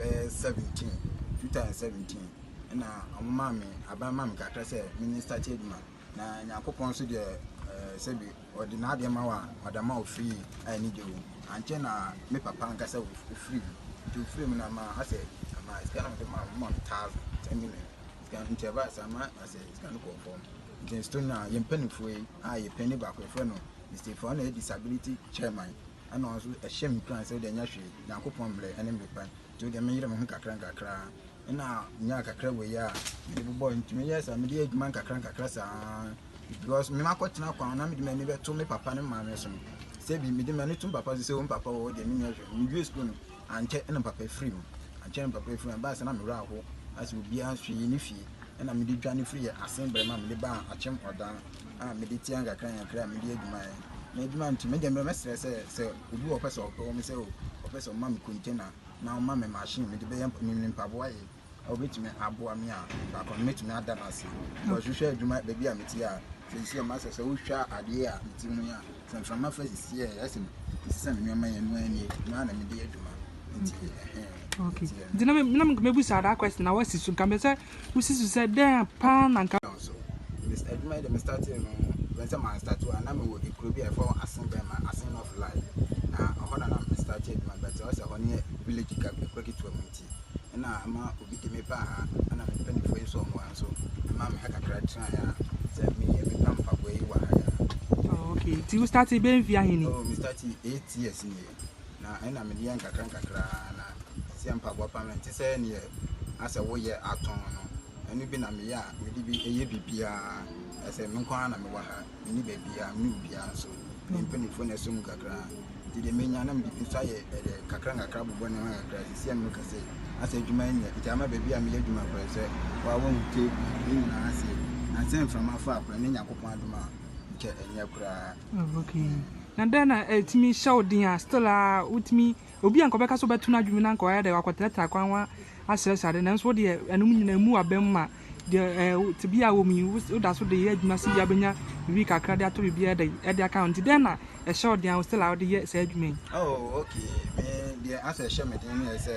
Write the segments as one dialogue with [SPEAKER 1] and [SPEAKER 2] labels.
[SPEAKER 1] bɛyɛ seventeen two thousand seventeen ɛna wɔn maa mi aban maa mi kakra sɛ mi ni start adwuma na nyankopɔn nso deɛ ɛɛ sɛbi ɔde n'adeɛ ma wa madama ofiri yi a ɛni gye wo ankyɛ na mi papa nkasa ofiri yi nti ofiri mu na ma asɛ ama sika na ɔde ma wɔn ma mi thousand ten million sika nti ɛba asɛ ama asɛ sika no kɔ fam nti nso na yɛn mpanimfoɔ yi a yɛ panyin baako efra no mr fɔn na yɛ disability chairman. ɛna ɔno nso ɛhyɛ me nkuran sɛ wodeɛ nyɛ hwee nyankopɔn mmerɛ ɛne mmerɛ pa nti wodeɛ menyere me ho nkakra nkakra ɛna nyaa kakra wɔ yi a mede bobɔ ntumi yɛ saa mede yɛ adwuma nkakra nkakra saa because me makɔ tena kwan na mede m'ani bɛto me papa ne maame so no sɛ bi mede m'ani to me papa so sɛ wo papa wɔ deɛ menyɛ hwee mewie sukuu no Ankyɛ na papa firii mu. Ankyɛ na papa firii mu. Ɛbaa sɛ na me werɛ ahow na sɛ obiara nso yɛ ne fie na mede dwane firi yɛn Asenbrɛma a mede baa Akyem Ɔdan a mede tia nkakrankakra a medi adwuma yɛ na adwuma nti me deɛ me mɛsrɛ sɛ sɛ obi wɔ ɔpɛ sɛ ɔpɛ wɔ me sɛ ɔpɛ sɛ ɔma me container na ɔma me machine mede bɛyɛ me mpaboa yɛ wobɛtumi aboa me a baako no mɛtumi ada no ase because wohwɛ adwuma baabi a mete a sɛsi a masɛ sɛ wohwɛ adeɛ a mete mu yi a sɛ mframa fa sisi a ɛsɛ ɛsɛ sɛ me nneɛma yɛ no anie no a na mede yɛ adwuma nti ɛhɛn
[SPEAKER 2] okay nti na na mɛbu saa that question na wasi so nka mɛ sɛ wosi so sɛ dɛn paa na nka so
[SPEAKER 1] adwuma yi de me startee no bɛn sɛ maa start a na mewɔ ekuro bi a ɛfɔ asen bɛn ma asen of life na ɔhɔ na na me start adwuma bɛtɛ ɔsɛ hɔ ne village ka ekuro ketewa mu nti ɛna ama obi de me baa ha, ɛna me mpanyinfoɔ yi nso wɔn nso ɛma me ha kakra tena ha sɛ me yɛ me pa mpaboa yi wɔ ha ya. Oh, okay, nti wo start
[SPEAKER 2] bɛ nfi ahe ni? Oh, me start eight
[SPEAKER 1] years ni yɛ na ɛna me deɛ nkakra nkakra na si yɛ mpaboa pa mɛ nti sɛ neɛ asɛ woyɛ atɔn no ɛno bi na meyɛ a mede bi ɛyɛ biribiara ɛsɛ me nko ara na mewɔ ha. menni baabiara, menni obiara nso. Me mpanimfoɔ na ɛsɔ mu kakra. Nti deɛ menya na mede bi nso ayɛ ɛdɛ kakra nkakra bobɔ ne ho kakra. Sisi ɛno kɛse asɛ adwuma nyɛ. Nti ama baabi a meyɛ adwuma koraa sɛ waa wɔn te ne nyinaa ase. Na sɛ mframa fa koraa ne Nyankopɔn adom a nkyɛ ɛnyɛ koraa. Okay.
[SPEAKER 2] Na dɛn na ɛtumi hyɛ wo den a still a wotumi Obi a nka ɔbɛka sɛ ɔbɛto n'adwene mu na anka ɔayɛ dɛ ɔakɔtratra akwan ho asrɛsrɛ adze, nanso wo deɛ ɛnom nyina mmu abam ma deɛ ɛɛ tsebea a ɔwɔ mu yi, wo wo da so de yɛ adwuma sɛ bia ɔbɛnya biribi kakra de atɔ biribi ɛdɛ ɛde aka ho. Ntsi dɛn na ɛhyɛ wo den a wo still a wode yɛ saa adwuma yi? Oh okay,
[SPEAKER 1] me deɛ asɛ ɛhyɛ me den ne sɛ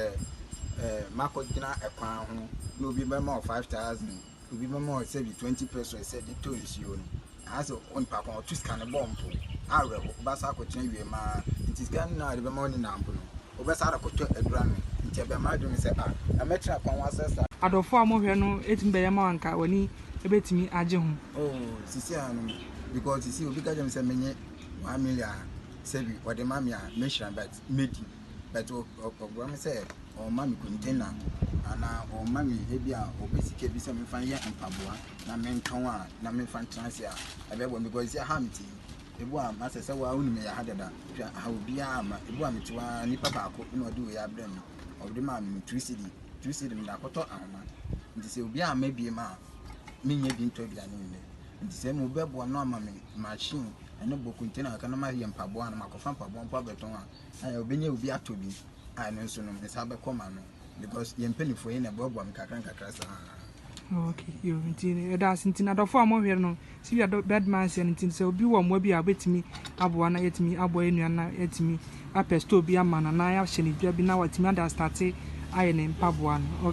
[SPEAKER 1] ɛɛ makɔgyina kwan ho na obi bɛma wo five thousand Obi bɛma wo sɛbi twenty pesos sɛ de tɔ nsuo no, anaasɛ onipa ko ɔto sika no bɔ mpo a awerɛho, wobɛsan akɔtena awie mu ara. Nti sika no a ɔde bɛma wo no nyinaa mpo no, wobɛsan de akɔtɔ aduro anom. Nti ɛbɛn m'adwene mu sɛ, ah, na mɛtena kwan ho asɛ saa. Adɔfoɔ a mohwɛ no
[SPEAKER 2] tumi bɛyɛ ma wo a anka w'ani bɛtumi agye ho. Oh, seesei
[SPEAKER 1] ara no, because seesei obi ka kyerɛ me sɛ menyɛ one million a, sɛbi ɔde ma me a, mɛhyira no, but mɛdi. but ɔboa me sɛ ɔma me container anaa ɔma me ebi a ɔpɛ sika bi sɛ mefa yɛ mpaboa na mentɔn a na mefa ntena ase a ɛbɛboa me because sɛ ha mete yi ebu a masɛ sɛ waa wonim yɛ ha dada hwɛ aha obiara ma ebu a mete waa nipa baako na ɔde wei abrɛ me ɔde maa me two cedi two cedi mede akɔtɔ ahoma nti sɛ obiara ma ebie ma a menyɛ bi ntɔ aduane nnɛ nti sɛ mo bɛboa no ama me machine ɛne bɔ container ka na mayɛ mpaboa na makɔfa mpaboa mpo abɛtɔn a Ɛɛ obenya obi atɔ bi a ɛno nso no nsa bɛkɔ ma no because yɛn mpanimfoɔ yɛn na ɛboaboa me kakra nkakra saa. Okay,
[SPEAKER 2] yo, nti ɛda ase nti adɔfo a wɔhwɛ no si bi adɔ bad man sɛ nti sɛ obi wɔ mmoa bi a obetumi aboa na yɛtumi aboa yɛn nua na yɛtumi apɛ store bi ama no na yɛahyɛ ne dwa bi na watumi ada astate ayɛ ne mpaboa no. Okay.